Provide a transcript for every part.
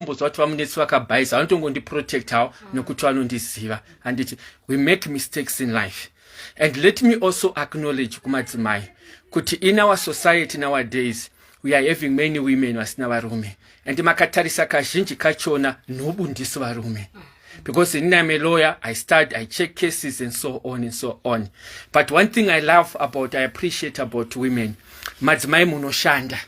kumbonzwa kuti vamunetsi vakabhayiza vanotongondiprotectawo mm. nokuti vanondiziva handiti we make mistakes in life and let me also acknowledge kumadzimai kuti in our society nowadays we are having many women vasina varume and makatarisa kazhinji kachona nobundisi varume mm. because in I'm a lawyer, I start, I check cases and so on and so on. But one thing I love about, I appreciate about women, madzimai munoshanda.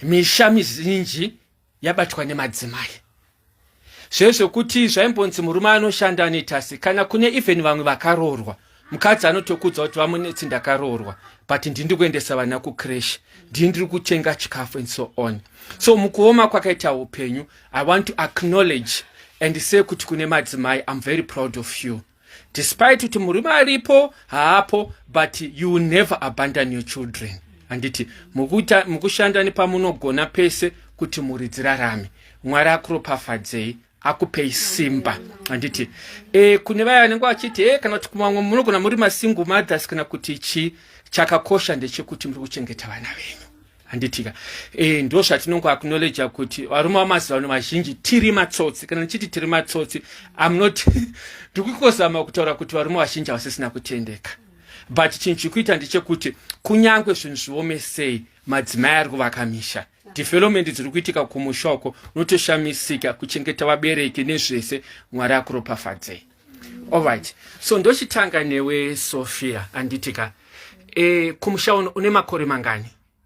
Misha mizinji yabatwa nemadzimai zvezvokuti zvaimbonzi murume anoshanda anetasi kana kune even vamwe vakaroorwa mukadzi anotokudza kuti vamunetsi ndakaroorwa but ndindi kuendesa vana kucresh ndii ndiri kutenga chikafu and so on so mukuoma kwakaita upenyu i want to acknowledge and say kuti kune madzimai im very proud of you despite kuti murume aripo haapo but you will never abandon your children handiti mukushanda nepamunogona pese kuti mhuri dzirarame mwari akuropafadzei akupei simba handiti e, kune vaya vanenge vachiti e, kana kuti kumamwe munogona muri masingle mothers kana kuti chii chakakosha ndechekuti muri kuchengeta vana venyu handitika e, eh, ndo zvatinongo aknoleja kuti varume vamazivano vazhinji tiri matsotsi kana ndichiti tiri matsotsi am not ndikukuzama kutaura kuti varume vazhinji havasisina kutendeka but chinhu chikuita ndechekuti kunyange zvinhu zviome sei madzimai ari kuvaka misha development dziri kuitika kumusha uko unotoshamisika kuchengeta vabereki nezvese mwari akuropafadzei Alright. So ndochitanga newe Sophia anditika. Eh kumusha une makore mangani?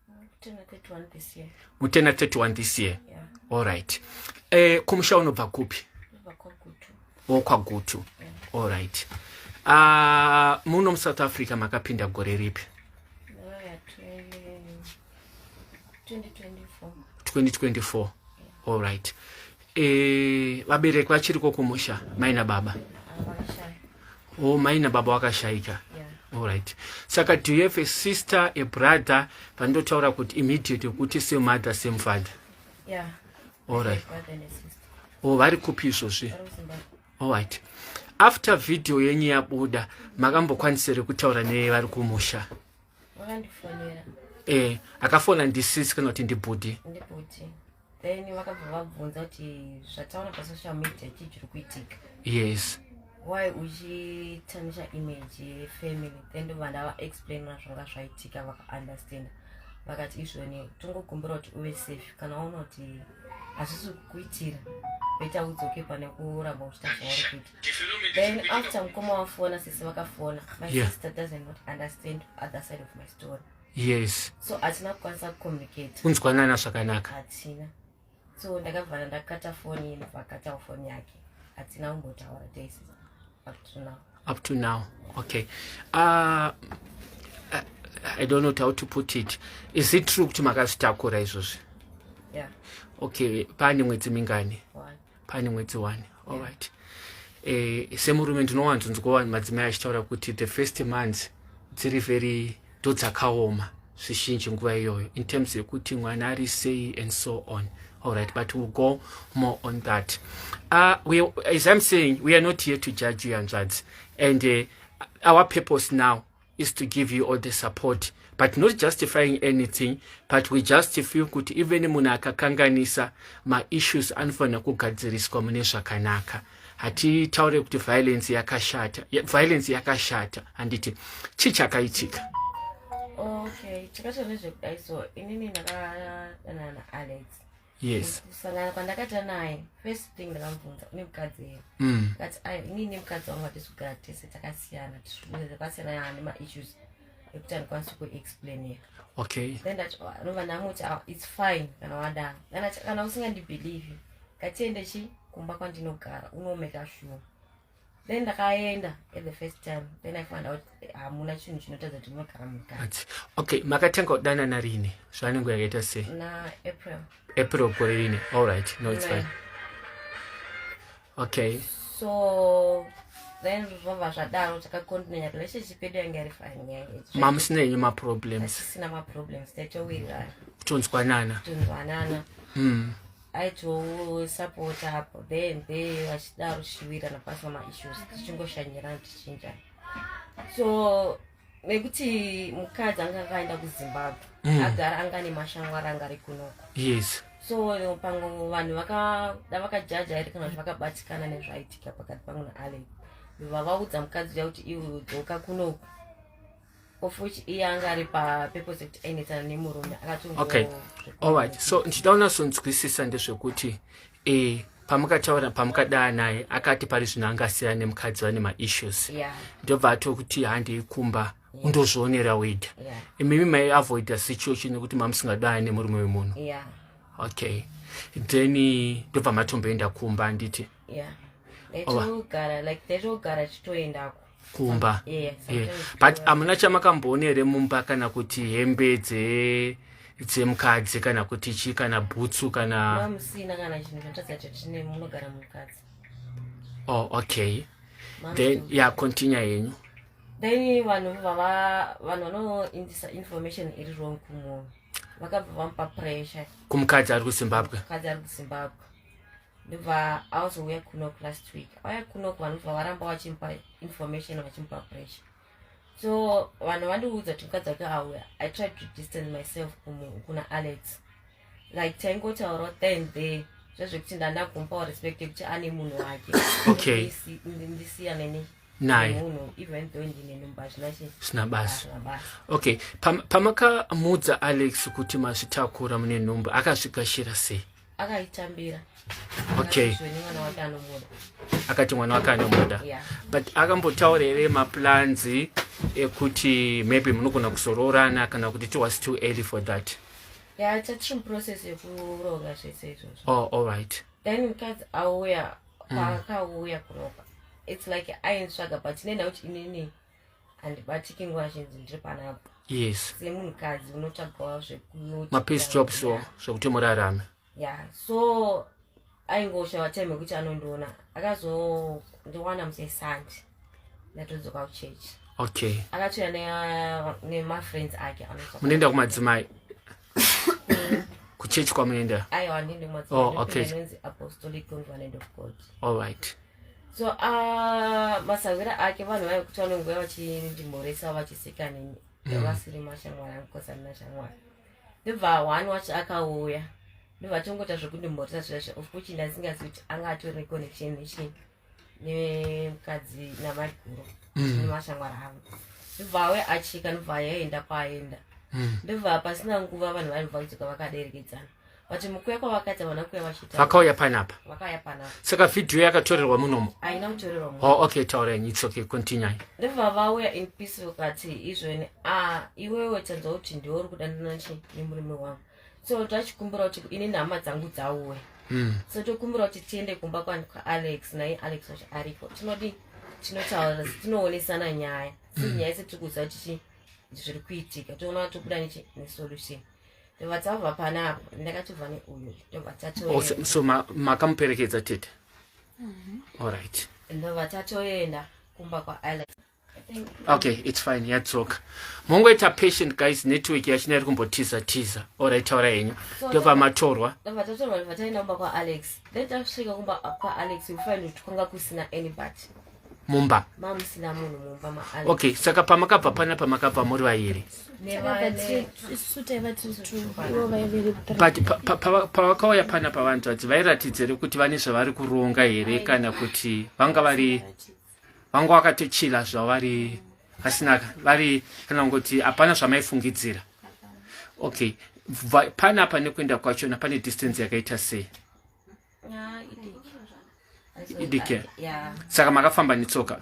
Mutena 31 this year. Mutena 31 this year. Yeah. Alright. Eh kumusha unobva kupi? Okwa Gutu. Yeah. Alright. Ah uh, muno mu South Africa makapinda gore ripi? 2024. 2024. Yeah. Alright. Eh, vabereki vachiriko kumusha mai nababa o oh, mai nababa vakashaika allright saka do you have a sister a brother vandotaura kuti immediate kuti same mother same father allright o oh, vari kupi izvozvi allright after video yenyu yabuda makambokwanisere kutaura nevari kumusha eh akafona ndisisi kana kuti ndibhudhi then vakabva vabvunza kuti zvataona pasocial media chii chiri kuitika yes why uchitanisha image yefamily then ndobva ndavaexplainira zvanga zvaitika vakaunderstanda vakati izvoni tongokumbira kuti uve safe kana waona kuti hazvisi kukuitira voita udzoke pane kuramba uchita zvavari kuita then after mukoma wafona sisi vakafona my yeah. sister doesn't not understand other side of my story yes so hatina kukwanisa kucommunicate kunzwanana zvakanaka hatina so ndakavhara ndakata foni ye ndobva akatawo foni yake hatina kumbotaura tese up to now up to now okay uh, uh i don't know how to put it is it true kuti makazvitakura izvozvi yeah. okay paane mwedzi mingani One. pane mwedzi one alright yeah. Eh, semurume ndinowanzonzwa vanhu madzimai achitaura kuti the first months dziri very ndo dzakaoma zvizhinji nguva iyoyo in terms yekuti mwana ari sei and so on allright but will go more on that uh, we, as im saying we are not here to judge you hanzvadzi and uh, our purpose now is to give you all the support but not justifying anything but we just feel kuti even munhu akakanganisa maissues anofanira kugadziriswa mune zvakanaka hatitaure kuti violence yakashata violence yakashata handiti chii chakaitika okay chakashata nezvekudai so inini ndakadanana alex yes kusangana kwandakaita naye first thing ndakamubvunza une mukadzi here mm. kati inii nemukadzi wangu hatisi kugara tese takasiyana tiaasiyana yaane maissues ekuti andikwanisi kuexplainira okay then ndati oh, anova ndamuti ah, its fine kana wadaro kana usingandibhelieve ngatiende chi kumba kwandinogara unomeka shuwa then ndakaenda at the first time then i found out eh, hamuna chinhu chinotadza kuti munogara mugara okay makatanga kudanana rini zvanenge yakaita se na april april gore rini all right no it's fine okay so then zvova zvadaro takakontinenya relationship yedu yange yari fine nyaya mamusina yenyu maproblems asisina maproblems tatowirirana tonzwanana tonzwanana mm. aitosapota apo then be vachida rushivirana pasina maissues tichingoshanyirana tichinjana so nekuti mukadzi anga akaenda kuzimbabwe mm. agara anga ane mashangwari anga ari kunoko yes so pamwe vanhu vakada vakajaja here kana kuti vakabatikana nezvaitika pakati pangu naalex vavaudza mukadzi uya kuti iwe udzoka kunoku of which iye anga ari papurpose yekuti ainetsana nemurume akatongo okay alright so ndichida unasonzwisisa ndezvekuti e pamukataura pamukadaya naye akati pari zvino anga asiyana nemukadzi vane maissues yeah. ndobva atokuti handei kumba yeah. undozvionera weda yeah. imimi maiavoida situation yekuti mamusingadaya nemurume wemunhu yeah. okay then ndobva matomboenda kumba anditi yeah ndaitogara like ndaitogara chitoendako kumba yeah, yeah. but hamuna chamakamboona here mumba kana kuti hembe dze dzemukadzi kana kuti chi kana bhutsu kana musina kana chinhu chatadza chatine munogara mukadzi oh okay then ya yeah, continue yenyu then vanhu vava vanhu vanoindisa information iri wrong kumunhu vakabva vamupa pressure kumukadzi ari kuzimbabwe mukadzi ari kuzimbabwe ndobva auzouya kunok last week auya kunok vanobva varamba vachimupa information vachimupa pressure so vanhu vandiudza kuti mukadzi wake auya i tried to distance myself kuna alex like taingotaura then the zvezvekuti ndanda kumupawo respect yekuti ane munhu wake okay ndisiya neni naye zvina basa okay pamakamuudza alex kuti mazvitakura mune nhumbu akazvigashira sei akaitambira okay akati mwana wake anomuda yeah. but akambotaura here maplans ekuti maybe munogona kuzoroorana kana kuti it was too early for that ya chatiri muprocess yekuronga zvese izvozvo oh, all right then mukadzi auya mm. paakauya kuropa it's like ainzvaga but nenda kuti inini handibatiki nguva zhinji ndiri panapa yes semunhukadzi unotsvagawo zvekumapisjop so zvekuti murarame ya so aingoshava time yekuti anondiona akazondiwana musesandi ndatodzoka kuchechi okay akatouya nemafriends ake munoenda kumadzimai kuchechi kwamunoenda aiwa ndindimazi oh, okay. apostolic convenant of god all right so uh, masahwira ake vanhu vave kuti vanonguva vachindimhoresa vachisika neni mm. vasiri mashamwari angu kosi amina shamwari ndobva one wacho akauya ndobva atongoita zvekundimhoresa zvaizvo of kuch ndasingazi kuti anga atori neconnection nechii nemukadzi namaiguru mm. nemashamwari angu ndobva awe achika ndobva yaenda kwaenda mm. ndobva pasina nguva vanhu vaibva kudzoka vakaderekedzana But mukuya kwavakaita vana kuya vachita. Vakauya panapa. Vakauya panapa. Saka video yakatorerwa munomo. Haina kutorerwa munomo. Oh okay taura yenyu it's okay continue. Ndivha vauya in peace vakati izvoni ah iwewe tanzwa kuti ndiwe uri kudandana chi nemurume wangu. So tachikumbira kuti ini nhama dzangu dzauwe. Mm. So tokumbira kuti tiende kumba kwa Alex naye Alex wacho ariko. Tinodi tinotaura tinoonesana nyaya. Mm. Nyaya yese tiri kuziva kuti zviri kuitika. Toona kuti tobuda nechi nesolution. ndobva tava panapa ndakatova neuyu ndobva tatoso makamuperekedza tete mhm. allright ndobva tatoenda kumba kwaalex okay its fine yadzoka mongoita patient guys network yachina iri kumbotiza tiza orit taura henyu ndobva matorwa ndobva tatorwa ndobva taenda kumba kwaalex then tasvika kumba kwaalex we find kuti kwanga kusina anybody mumba mamusina munhu mumba ma okay saka pamakabva pana pamakabva muri vairi but pavakauya pana pavanzi vadzi vairatidza here kuti vane zvavari kuronga here kana kuti vanga vari vanga vakatochila zvavari vasina vari kana kungoti hapana zvamaifungidzira okay panapa nekuenda kwachona pane distance yakaita sei idike saka makafamba netsoka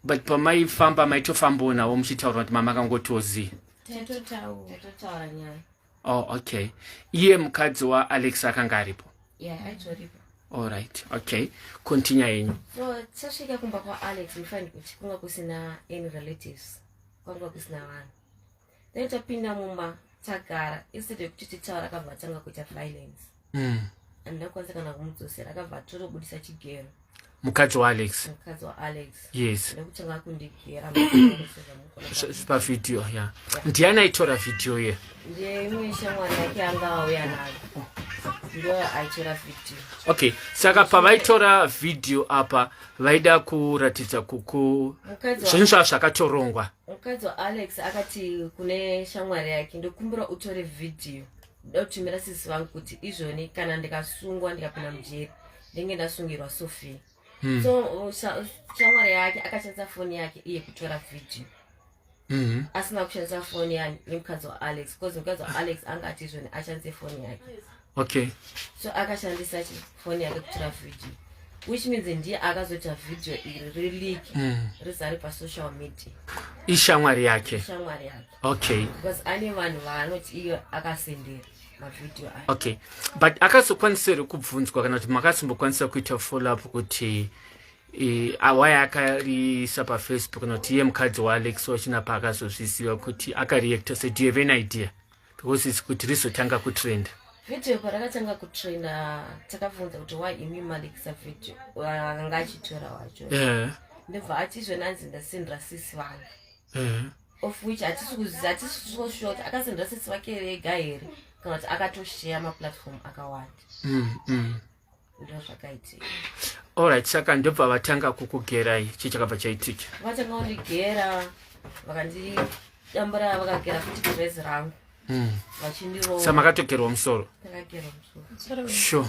but pamaifamba maitofambawo navo muchitaura kuti mama akangotiwo zii oh okay iye mukadzi waalex akanga aripo allright okay continue yenyu so tasvika kumba kwaalex mufanira kuti kunga kusina any relatives kwanga kusina vanhu then tapinda mumba tagara instead yekuti titaura akabva atanga kuita violence mm. and ndakwanisa kana kumudzosera akabva atotobudisa chigero mukadzi waalex mukadzi waalex yes ndokutanga kundigera pavideo ya ndiani aitora vhidhiyo ye ndiye imwe shamwari yake anga auya nayo okay saka pavaitora vhidhiyo apa vaida kuratidza kuku zvinhu zvava zvakatorongwa mukadzi waalex akati kune shamwari yake ndokumbira utore vhidhiyo ndoda kutumira sisi vangu kuti izvoni kana ndikasungwa ndikapinda mujeri ndenge ndasungirwa sofia hmm. so uh, shamwari yake akashandisa foni yake iye kutora vhidhiyo Mm-hmm. asina kushandisa foni yemukadzi waalex because mukadzi waalex anga ati izvoni ashandise foni yake okay so akashandisa chi phone yake kutora video which means ndiye akazoita video iri releak mm. rizari pasocial media ishamwari yake ishamwari yake okay because ane vanhu vaanoti iyo akasendera mavideo ayo okay but akazokwanisa here kubvunzwa kana kuti makazombokwanisa kuita follow up kuti awaya akariisa pafacebook kana kuti iye mukadzi waalex wachina paakazozviziva kuti akareacta se do you have an idea because it's kuti rizotanga kutrenda video parakatanga kutrenda takabvunza kuti why imi malikisa video akanga achitora wacho eh. ndobva atizvona anzi ndasindira sisi vangu eh. of which hatisikuzihatisisoshuwa kuti akasindira sisi vake vega here kana kuti akatosheya maplatform akawanda mm, mm. ndozvakaitika orit saka ndobva vatanga kukugerai chii chakabva chaitika vatanga kundigera vakandidambura vakagera futi kuvhezi rangu hmm. vachindirova makatogerwa musoro sure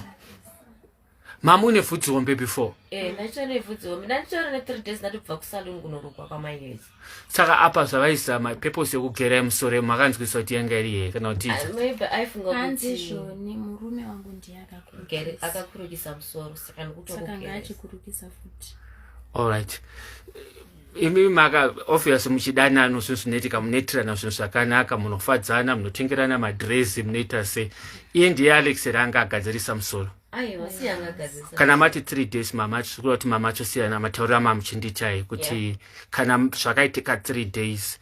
mama une vhudzi hombe before eh, ndaitone vhudzi hombe ndanditora ne three days ndatobva kusaluni kunorukwa kwamaihezi saka apa zvavaizama purpose yokugera yemusoro yemu makanzwisisa kuti yanga iri yeye kana kuti allright imi maka obvious muchidanano zvinhu zvinoitika munoitirana zvinhu zvakanaka munofadzana munotengerana madresi munoita sei iye ndiye alex ranga agadzirisa musoro kana mati three days mama tikuda kuti mama chosiyana mataurira mamuchinditai kuti yeah. kana zvakaitika three days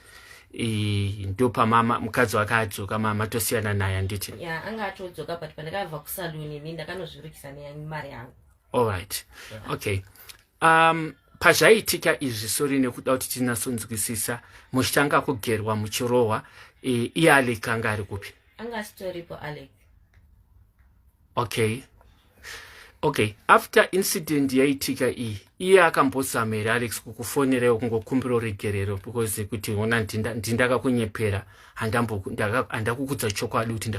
ndopamama mukadzi wake adzoka mama tosiyana naye anditi yeah, anga atodzoka but pandakabva kusaluni ini ndakanozvirukisa nemari yangu allright yeah. okay um, pazvaiitika izvi sori nekuda kuti tinatsonzwisisa muchitanga kugerwa muchirohwa iye alek anga ari kupi anga asitoripo alek okay okay after incident yaitika iyi iye akambozama here alex kukufonerewo kungokumbira regerero because kuti ona ndindakakunyepera handakukudza chokwadi kuti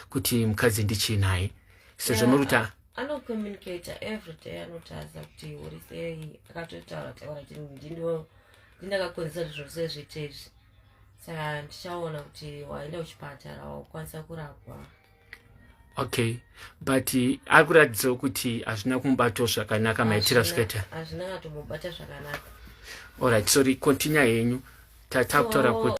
kuti mukadzi ndichinaye sezvo nokuti anocommunicate every day anotaza kuti uri sei akatotaura taura kuti ndindo ndindakakonzesa kuti zvose zviite izvi saka ndichaona kuti waenda uchipatara wakwanisa kurapwa okay but ari kuratidzawo kuti hazvina kumubatawo zvakanaka maitira zvikaita hazvina katomubata zvakanaka allright sorry continue henyu tatakutaura kuti